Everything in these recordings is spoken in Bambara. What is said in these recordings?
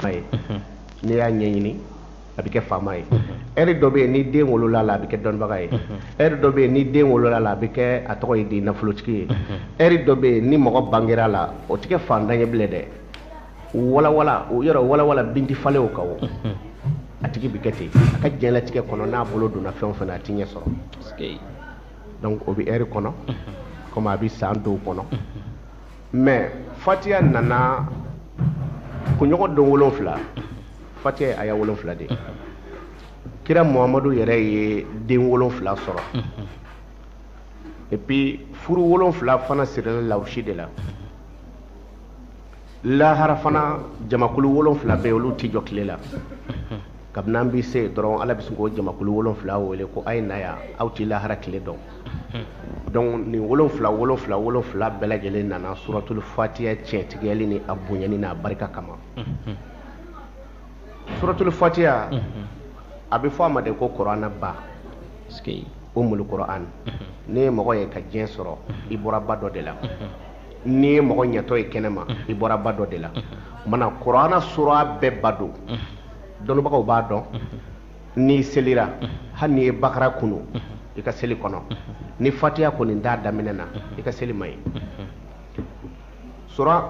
la ye n'i y'a ɲɛɲini a bɛ kɛ faama ye ɛri dɔ bɛ yen ni den wolola la a bɛ kɛ dɔnnibaga ye ɛri dɔ bɛ yen ni den wolola la a bɛ kɛ a tɔgɔ ye di nafolotigi ye ɛri dɔ bɛ yen ni mɔgɔ bangera la o tɛ kɛ fantan ye bilen dɛ walawala o yɔrɔ walawala bin tɛ falen o kan o a tigi bɛ kɛ ten a ka diɲɛlatigɛ kɔnɔ n'a bolo donna fɛn o fɛn na a tɛ ɲɛ sɔrɔ donc o bɛ ɛri kɔnɔ komi a bɛ san dɔw kɔnɔ mais fatiya nana kunɲɔgɔn don wolonfila fatiya ye aya wolonfila de kira muhamadu yɛrɛ ye den wolonfila sɔrɔ et puis furu wolonfila fana sirila lawusi de la lahara fana jamakulu wolonfila bɛ olu tɛ jɔ tile la kabini an bɛ se dɔrɔn ala bɛ sin k'o jamakulu wolonfila wele ko a ye na yan aw tɛ lahara tile dɔn donc nin wolonfila wolonfila wolonfila bɛɛ lajɛlen nana suratulu fatiya tiɲɛtigiyali ni a bonyani n'a barika kama suratulu fatiya a bɛ fɔ a ma de ko kɔrɔana ba umulu kɔrɔan n'i ye mɔgɔ ye ka diɲɛ sɔrɔ i bɔra ba dɔ de la n'i ye mɔgɔ ɲɛtɔ ye kɛnɛ ma i bɔra ba dɔ de la o maana kɔrɔana sura bɛɛ ba don dɔnnibagaw b'a dɔn n'i selira hali n'i ye bakara kunu i ka seli kɔnɔ ni fatiya kɔni t'a daminɛ na i ka seli man ɲi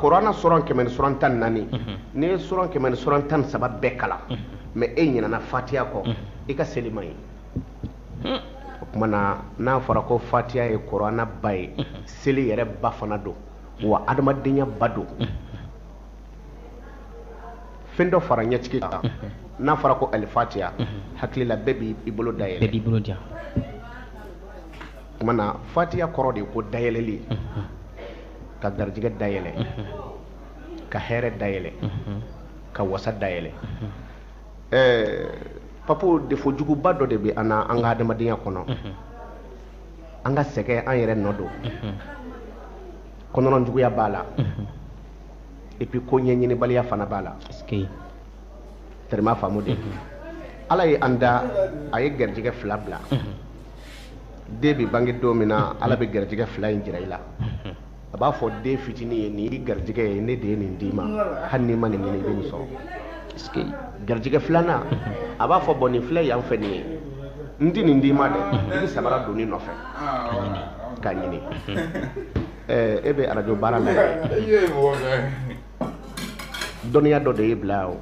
korana suran kɛmɛ ni suran tan naani n'i ye suran kɛmɛ ni suran tan saba bɛɛ kalan mais e ɲinana fatiya kɔ i ka seli man ɲi o tuma na n'a fɔra ko fatiya ye korana ba ye seli yɛrɛ ba fana don wa adamadenya ba don fɛn dɔ fara ɲɛtigi kan n'a fɔra ko alifatiya hakilila bɛɛ b'i bolo dayɛlɛ bɛɛ b'i bolo o tuma na fatiya kɔrɔ de ko dayɛlɛli ka garijɛgɛ dayɛlɛ ka hɛrɛ dayɛlɛ ka wasa dayɛlɛ ɛɛ papo defo juguba dɔ de bɛ an na an ka adamadenya kɔnɔ an ka sɛgɛn an yɛrɛ nɔ don kɔnɔnɔjuguya b'a la et puis ko ɲɛɲinibaliya fana b'a la tɛrɛma faamu de ala ye an da a ye garijɛgɛ fila bila den bɛ bange don min na ala bɛ garijɛgɛ fila in jira i la a b'a fɔ den fitinin ye nin y'i garijɛgɛ ye ne de ye nin d'i ma hali n'i ma nin ɲini i bɛ nin sɔrɔ garijɛgɛ filanan a b'a fɔ bɔn nin filɛ yan fɛ nin ye n tɛ nin d'i ma dɛ i bɛ sabara don nin nɔfɛ k'a ɲini ɛɛ e bɛ arajo baara la dɔnniya dɔ de ye bila o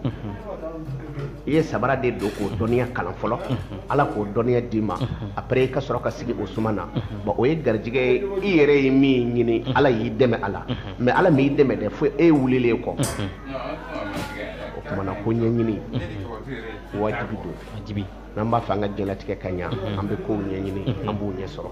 i ye sabara de don k'o dɔnniya kalan fɔlɔ ala k'o dɔnniya d'i ma après i ka sɔrɔ ka sigi o suma na bon o ye garijigɛ ye i yɛrɛ ye min ɲini ala y'i dɛmɛ a la mais ala m'i dɛmɛ dɛ fo e wulilen kɔ o tuma na ko ɲɛɲini wajibi don n'an b'a fɛ an ka diɲɛlatigɛ ka ɲa an bɛ kow ɲɛɲini an b'u ɲɛ sɔrɔ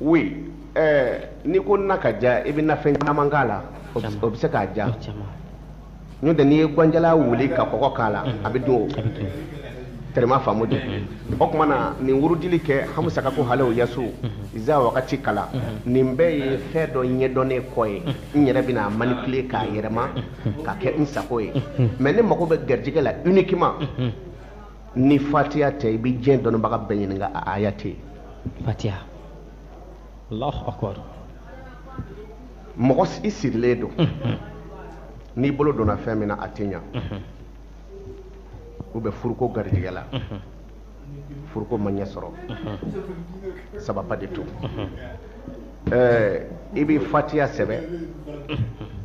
oui ɛɛ n'i ko na ka diya i bɛ nafɛn caman k'a la o bɛ se k'a diya n'o tɛ n'i ye gwan jalan wuli ka kɔgɔ k'a la a bɛ dun o tɛrɛma faamu dɛ o tuma na nin wurudili kɛ hamusaka ko halew yasu iza wakati kalan nin bɛɛ ye fɛn dɔ ɲɛdɔnnen kɔ ye n yɛrɛ bɛna manipuler k'a yɛrɛma ka kɛ n sago ye mais ne mago bɛ garijɛgɛ la uniquement ni fatiya tɛ i bɛ diɲɛ dɔnnibaga bɛɛ ɲininka a aya tɛ yen fatiya alahu akbar mɔgɔ i sirilen don n'i bolo donna fɛn min na a tɛ ɲa ou bien furuko garijɛgɛ la furuko ma ɲɛ sɔrɔ ça va pas du tout i bɛ fatiya sɛbɛn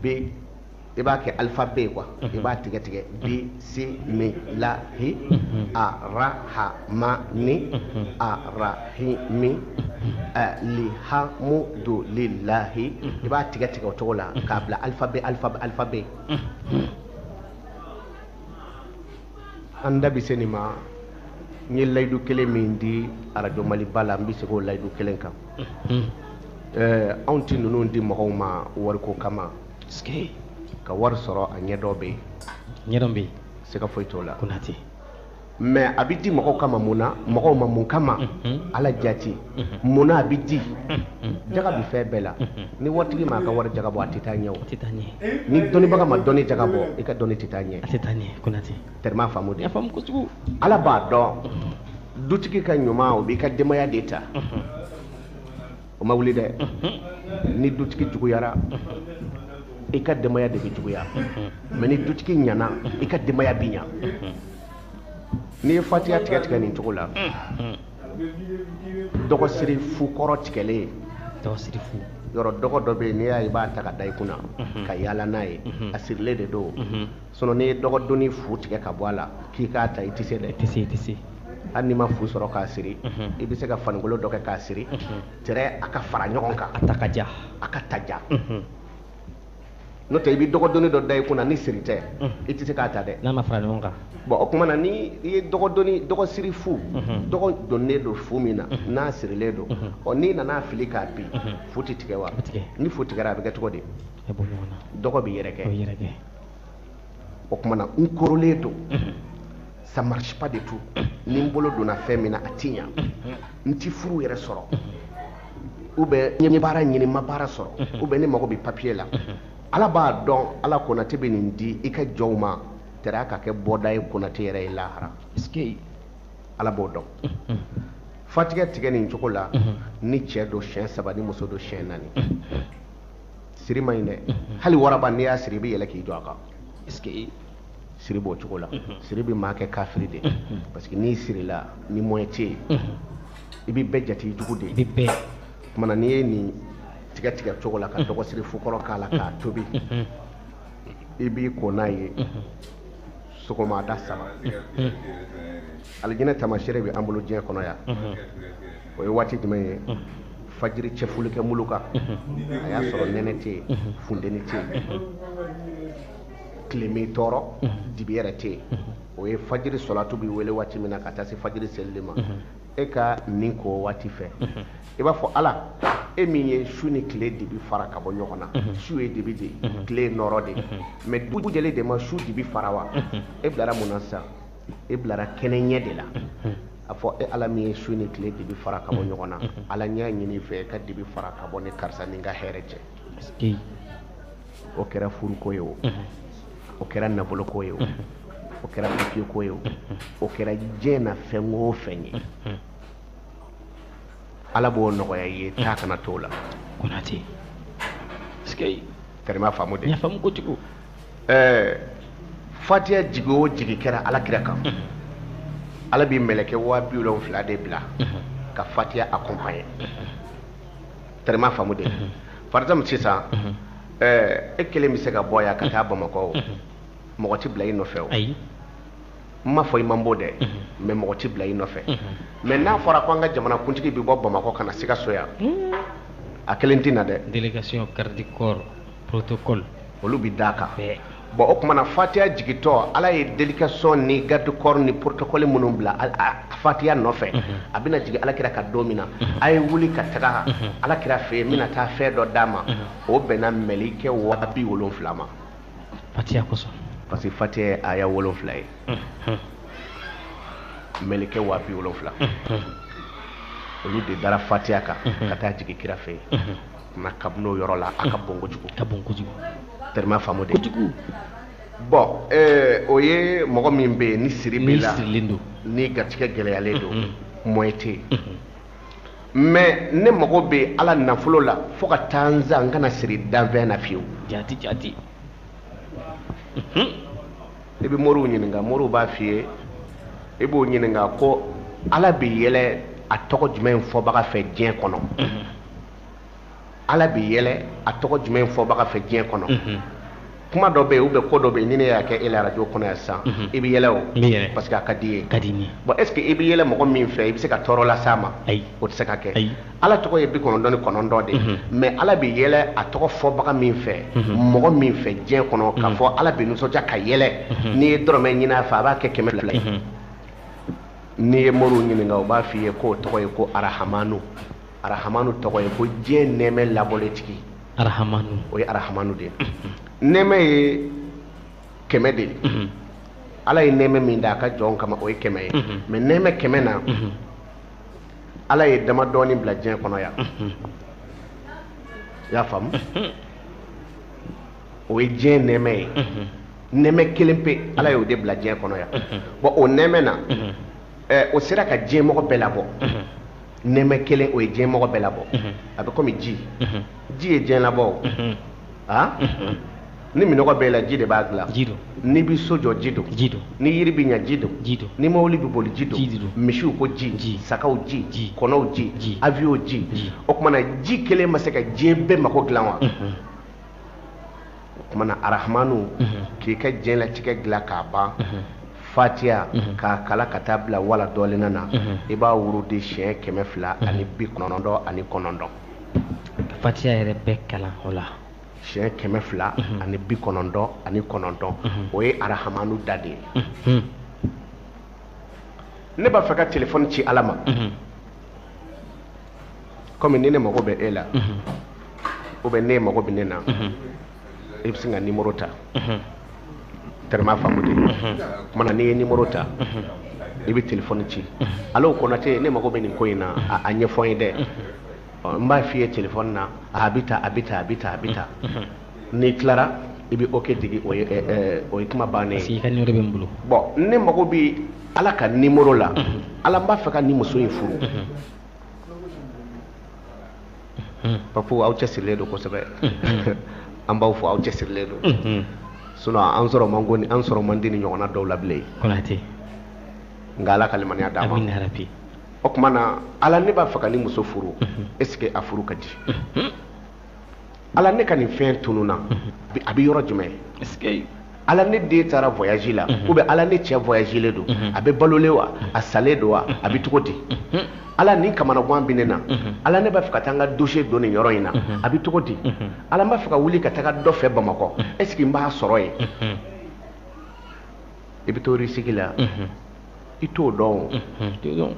bi i b'a kɛ alphabet quoi i b'a tigɛ tigɛ bi si mi la hi a ra ha ma ni a ra hi mi ɛ li ha mu do li la hi i b'a tigɛ tigɛ o cogo la k'a bila alphabet alphabet alphabet an da bɛ se nin ma n ye layidu kelen min di arajo maliba la n bɛ segin o layidu kelen kan ɛɛ anw tɛ ninnu di mɔgɔw ma wariko kama. ka wari sɔrɔ a ɲɛdɔn bɛ yen ɲɛdɔn bɛ yen siga foyi t'o la konate mais a bɛ di mɔgɔw kama mun na mɔgɔw ma mun kama ala jati mun na a bɛ di jaga bɛ fɛn bɛɛ la ni waritigi ma a ka wari jaga bɔ a tɛ taa ɲɛ ni dɔnnibaga ma dɔnni jaga bɔ i ka dɔnni tɛ taa ɲɛ a tɛ taa ɲɛ konate tɛrɛma faamu dɛ faamu kojugu ala b'a dɔn dutigi ka ɲuman o b'i ka denbaya de ta o ma wuli dɛ ni dutigi juguyara i ka denbaya de bɛ juguya mais ni dutigi ɲana i ka denbaya bɛ ɲa n'i ye fatiya tigɛ tigɛ nin cogo la dɔgɔsiri fu kɔrɔ tigɛlen dɔgɔsiri fu yɔrɔ dɔgɔ dɔ bɛ yen n'i y'a ye i b'a ta ka da i kunna ka yaala n'a ye a sirilen de don sinon n'i ye dɔgɔdoni fu tigɛ ka bɔ a la k'i k'a ta i tɛ se dɛ i tɛ se i tɛ se hali n'i ma fu sɔrɔ k'a siri i bɛ se ka fanikolo dɔ kɛ k'a siri tɛrɛ a ka fara ɲɔgɔn kan a ta ka ja a ka ta ja n'o tɛ i bɛ dɔgɔdoni dɔ da i kunna ni siri tɛ i tɛ se k'a ta dɛ n'a ma fara ɲɔgɔn kan bɔn o tuma na ni i ye dɔgɔdoni dɔgɔsiri fu dɔgɔ donnen don fu min na n'a sirilen don ɔ n'i nana fili k'a bin fu tɛ tigɛ wa ni fu tigɛra a bɛ kɛ cogo di dɔgɔ bɛ yɛrɛkɛ o tuma na n korolen don ça marche pas du tout ni n bolo donna fɛn min na a ti ɲa n ti furu yɛrɛ sɔrɔ ou bien n ye baara ɲini n ma baara sɔrɔ ou bien ne mago bɛ papier la ala b'a dɔn ala konate bɛ nin di i ka jɔnw ma tɛrɛ a ka kɛ bɔda ye konate yɛrɛ ye lahara ala b'o dɔn fatigɛ tigɛ nin cogo la ni cɛ don siyɛn saba ni muso don siyɛn naani siri ma ɲi dɛ hali waraba n'i y'a siri i bɛ yɛlɛ k'i jɔ a kan est-ce que siri b'o cogo la siri bɛ maa kɛ kafiri de parce que n'i sirila ni moyen tɛ yen i bɛ bɛɛ jate jugu de ye o tuma na n'i ye nin tigɛ tigɛ cogo la ka dɔgɔsiri fu kɔrɔ k'a la k'a tobi i b'i ko n'a ye sɔgɔmada saba alijinɛ tamasere bɛ an bolo diɲɛ kɔnɔ yan o ye waati jumɛn ye fajiri cɛfolikɛ mulu kan a y'a sɔrɔ nɛnɛ tɛ yen funteni tɛ yen tile m'i tɔɔrɔ dibi yɛrɛ tɛ yen o ye fajiri sɔlatu bɛ wele waati min na ka taa se fajiri selili ma e ka nin ko o waati fɛ i b'a fɔ ala e min ye su ni tile dibi fara ka bɔ ɲɔgɔn na su ye dibi de ye tile ye nɔɔrɔ de ye mais dugu jɛlen de ma su dibi fara wa e bilara mun na sisan e bilara kɛnɛ ɲɛ de la a fɔ e ala min ye su ni tile dibi fara ka bɔ ɲɔgɔn na ala n y'a ɲini i fɛ e ka dibi fara ka bɔ ne karisa ni n ka hɛrɛ cɛ o kɛra furuko ye o o kɛra nafoloko ye o o kɛra papiyeko ye o o kɛra diɲɛ na fɛn o fɛn ye ala b'o nɔgɔya ye taa kana to la konate tɛrɛma faamu de faamu kojugu ɛɛ fatiya jigin o jigin kɛra alakira kan ala bɛ mɛlɛkɛ waa bi wolonwula de bila ka fatiya accompagner tɛrɛma faamu de par exemple sisan ɛɛ e kelen bɛ se ka bɔ yan ka taa bamakɔ o mɔgɔ tɛ bila i nɔfɛ o n m'a fɔ i man bon dɛ mais mɔgɔ tɛ bila i nɔfɛ mais n'a fɔra ko an ka jamana kuntigi bɛ bɔ bamakɔ ka na sikaso yan a kelen tɛ na dɛ délégation garde corps protocole olu bɛ d'a kan bon o tumana fatiya jigitɔ ala ye délégation ni garde corps ni protocole minnu bila fatiya nɔfɛ mhm. a bɛna jigin alakira kan don min na mhm. a ye wuli ka taga mhm. alakira fɛ yen n bɛna taa fɛn dɔ d'a ma o bɛnna mɛlikɛ wa bi wolonfila ma fatiya kosɔn parce que fatiya ye aya wolonfila ye mɛlikɛ wa bi wolonfila olu de dara fatiya kan ka taa jigin kira fɛ yen nka kabini o yɔrɔ la a ka bon kojugu ka bon kojugu tellement faamu de kojugu bon eh, o ye mɔgɔ min bɛ yen ni siri b'i la n'i garijɛgɛ gɛlɛyalen don moyen tɛ yen mais ne mago bɛ ala nafolo la fo ka taa n sa n kana siri danfɛn na fiyewu jati jati i bɛ moriw ɲininka moriw b'a f'i ye i b'o ɲininka ko ala bɛ yɛlɛ a tɔgɔ jumɛn fɔbaga fɛ diɲɛ kɔnɔ ala bɛ yɛlɛ a tɔgɔ jumɛn fɔbaga fɛ diɲɛ kɔnɔ mhm. kuma dɔ bɛ yen ou bien ko dɔ bɛ yen ni ne y'a kɛ e la arajo kɔnɔ yan sisan mhm. i bɛ yɛlɛ o parce que a ka d'i ye ka di n ye bon est ce que i bɛ yɛlɛ mɔgɔ min fɛ i bɛ se ka tɔɔrɔ las'a ma ayi o tɛ se ka kɛ ayi ala tɔgɔ ye bi kɔnɔntɔn ni kɔnɔntɔn de ye mhm. mais ala bɛ yɛlɛ a tɔgɔ fɔbaga min fɛ mɔgɔ min fɛ diɲɛ kɔnɔ k'a fɔ ala bɛ nisɔndiya ka yɛlɛ n'i ye dɔrɔmɛ ɲini a fɛ a b'a kɛ kɛmɛ fila ye n'i ye moriw ɲininka u b'a f'i ye k'o tɔgɔ ye ko arahamanu arahamanu tɔgɔ ye ko diɲɛ nɛɛmɛ labɔlen tigi arahamanu o ye arahamanu de ye nɛɛmɛ ye kɛmɛ de ye ala ye nɛɛmɛ min da a ka jɔnw kama o ye kɛmɛ ye mais nɛɛmɛ kɛmɛ na ala ye dama dɔɔni bila diɲɛ kɔnɔ yan i y'a faamu o ye diɲɛ nɛɛmɛ ye nɛɛmɛ kelen pe ala y'o de bila diɲɛ kɔnɔ yan bon o nɛɛmɛ na o sera ka diɲɛmɔgɔ bɛɛ labɔ nɛɛmɛ kelen o ye diɲɛ mɔgɔ bɛɛ labɔ a bɛ komi ji ji ye diɲɛ labɔ wa ni minnɔgɔ b'i la ji de b'a dilan ji don n'i bɛ so jɔ ji don ji don ni yiri bɛ ɲa ji don ji don ni mɔbili bɛ boli ji don ji don misiw ko ji ji sagaw ji ji kɔnɔw ji ji avion ji o tumana ji kelen ma se ka diɲɛ bɛɛ mago dilan wa o tumana arahamanu k'i ka diɲɛlatigɛ dilan k'a ban fatiya k'a kalan ka taa bila wala dɔɔlina na i b'a wurudi siɲɛ kɛmɛ fila ani bi kɔnɔntɔn ani kɔnɔntɔn fatiya yɛrɛ bɛɛ kalan o la siɲɛ kɛmɛ fila ani bi kɔnɔntɔn ani kɔnɔntɔn o ye arahamanu da de ye ne b'a fɛ ka telefɔni ci ala ma kɔmi ni ne mago bɛ e la ou bien e mago bɛ ne na i bɛ sin ka nimoro ta tellement faamu de kumana n'i ye nimoro ta i bɛ telefɔni ci alo konate ne mago bɛ nin ko in na a ɲɛfɔ n ye dɛ n b'a f'i ye telefɔni na a bɛ ta a bɛ ta a bɛ ta a bɛ ta n'i tilara i bɛ ok digi o ye o ye kuma bannen ye. i ka nimoro bɛ n bolo. bɔn ne mago bɛ ala ka nimoro la ala n b'a fɛ ka nin muso in furu. papu aw cɛsirilen don kosɛbɛ an b'aw fo aw cɛsirilen don sinon an sɔrɔ man go an sɔrɔ man di nin ɲɔgɔnna donw la bilen kɔnate nka ala ka limaniya d'a ma amin yarabi o tuma na ala ne b'a fɛ ka nin muso furu est ce que a furu ka di ala ne ka nin fɛn tununna a bɛ yɔrɔ jumɛn ala ne den taara vɔyazi la ou bien ala ne cɛ vɔyazilen don a bɛ balolen wa a salen don wa a bɛ cogo di ala nin kamanagan bɛ ne na ala ne b'a fɛ ka taa n ka dosiye don nin yɔrɔ in na a bɛ cogo di ala n b'a fɛ ka wuli ka taga dɔ fɛ bamakɔ est ce que n b'a sɔrɔ yen i bɛ to risiki la i t'o dɔn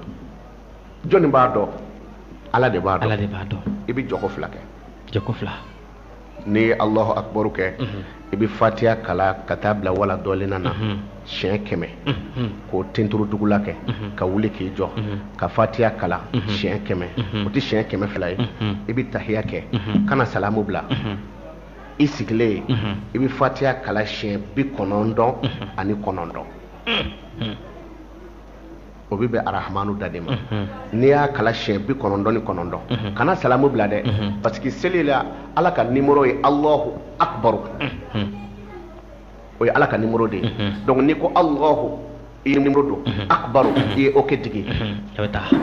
jɔnni b'a dɔn ala de b'a dɔn ala de b'a dɔn i bɛ jɔko fila kɛ jɔko fila n'i ye alahu akibaru kɛ mhm. i bɛ fatiya kalan ka taa bila wala dɔɔlina na mhm. siɲɛ kɛmɛ mhm. k'o tenturu dugu la kɛ ka wuli k'i jɔ ka fatiya kalan siɲɛ kɛmɛ o tɛ siɲɛ kɛmɛ fila ye i bɛ tahiya kɛ kana salamu bila i sigilen i bɛ fatiya kalan siɲɛ bi kɔnɔntɔn ani kɔnɔntɔn o bɛ bɛn arahamanu da de ma n'i y'a kalan siɲɛ bi kɔnɔntɔn ni kɔnɔntɔn kana salamu bila dɛ parce que seli la ala ka nimoro ye alahu akubaru o ye ala ka nimoro de ye donc n'i ko alahu i ye nimoro don akubaru i ye ok digi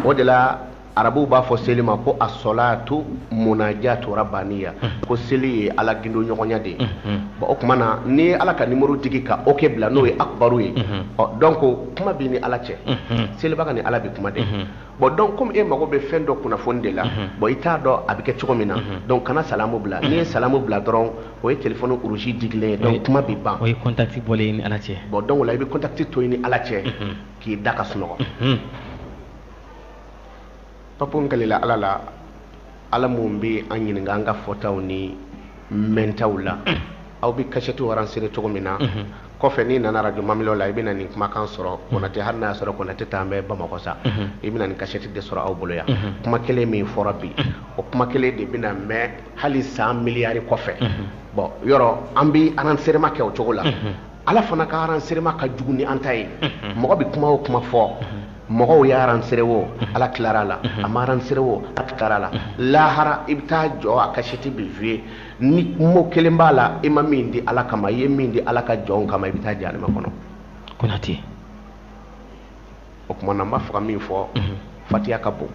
o de la arabuw b'a fɔ seli ma ko asɔlatu munajatu rabaniya ko seli ye ala gindo ɲɔgɔnya de ye bɔn o tuma na n'i ye ala ka nimoro digi ka ok bila n'o ye akubaru ye donc kuma b'i ni ala cɛ selibaga ni ala bɛ kuma de bɔn donc komi e mago bɛ fɛn dɔ kunnafoni de la bɔn i t'a dɔn a bɛ kɛ cogo min na donc kana salamu bila n'i ye salamu bila dɔrɔn o ye telefɔni rouge digilen ye donc kuma bɛ ban o ye kɔntati bɔlen ye i ni ala cɛ bɔn donc o la i bɛ kɔntati to i ni ala cɛ k'i da ka sunɔgɔ papu n kalila ala la ala min bɛ an ɲininka an ka fɔtaw ni mɛntaw la aw bɛ kasɛtiw aransere cogo min na mhm. kɔfɛ n'i nana arajo mamilo la i bɛna nin kumakan sɔrɔ mhm. konatɛ hali n'a y'a sɔrɔ konatɛ t'an fɛ bamakɔ sa mhm. i bɛna nin kasɛti de sɔrɔ aw bolo yan kuma kelen min fɔra bi o kuma kelen de bɛna mɛn hali san miliyari kɔfɛ bɔn yɔrɔ an bɛ aranserema kɛ o cogo la ala fana ka aranserema ka jugu ni an ta ye mɔgɔ bɛ kuma o kuma fɔ mɔgɔw ye aransere wo ala tilara la a ma aransere wo ala tilara la lahara i bɛ taa jɔ a kasɛti bɛ fiyɛ ni mɔgɔ kelen b'a la i ma min di ala kama i ye min di ala ka jɔn kama i bɛ taa jahanama kɔnɔ konate o kuma na n b'a fɛ ka min fɔ fatiya ka bon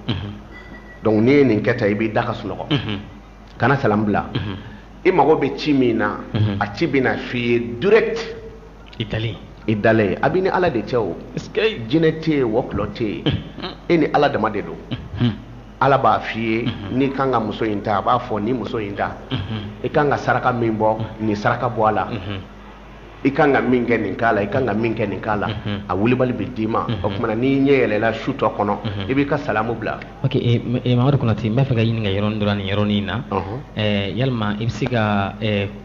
donc n'i ye nin kɛ tan i b'i da ka sunɔgɔ kana salamu bila i mago bɛ ci min na a ci bɛna f'i ye direct i dalen i dalen ye a b'i ni ala de cɛ o jinɛ tɛ yen wɔkulɔ tɛ yen e ni ala dama de don ala b'a f'i ye n'i kan ka muso in ta a b'a fɔ ni muso in ta i kan ka saraka min bɔ nin saraka bɔ a la i kan ka min kɛ nin k'a la i kan ka min kɛ nin k'a la a wulibali bɛ d'i ma o kuma na n'i ɲɛ yɛlɛla su tɔ kɔnɔ i b'i ka salamu bila ok mamadu konate n b'a fɛ ka ɲininka yɔrɔ dɔrɔn nin yɔrɔnin in na yalima i bɛ se ka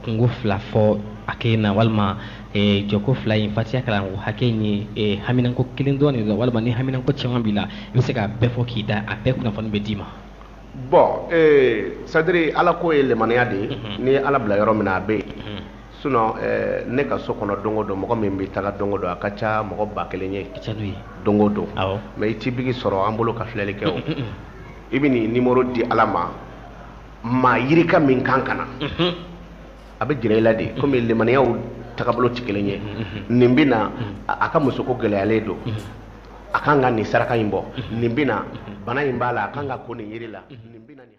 kunko fila fɔ a kɛ na walima eh, jɔko fila in fatiya kalanko hakɛ in ye eh, haminanko kelen dɔrɔn de la walima ni haminanko caman b'i la i bɛ se k'a bɛɛ fɔ k'i da a bɛɛ kunnafoni bɛ d'i ma bon eh, sadiri ala ko ye lemaniya de ye mhm. n'i ye ala bila yɔrɔ min na a bɛ yen mhm. sinon eh, ne ka so kɔnɔ don o don mɔgɔ min bɛ taga don o don a ka ca mɔgɔ ba kelen ye don o don mais i tɛ biki sɔrɔ an bolo ka filɛli kɛ o i bɛ nin nimoro di ala ma maa yirika min kan ka na a bɛ jira i la de komi limaniyaw tagabolo tɛ kelen ye nin bɛ na a ka musoko gɛlɛyalen don a kan ka nin saraka in bɔ nin bɛ na bana in b'a la a kan ka ko nin yiri la nin bɛ na nin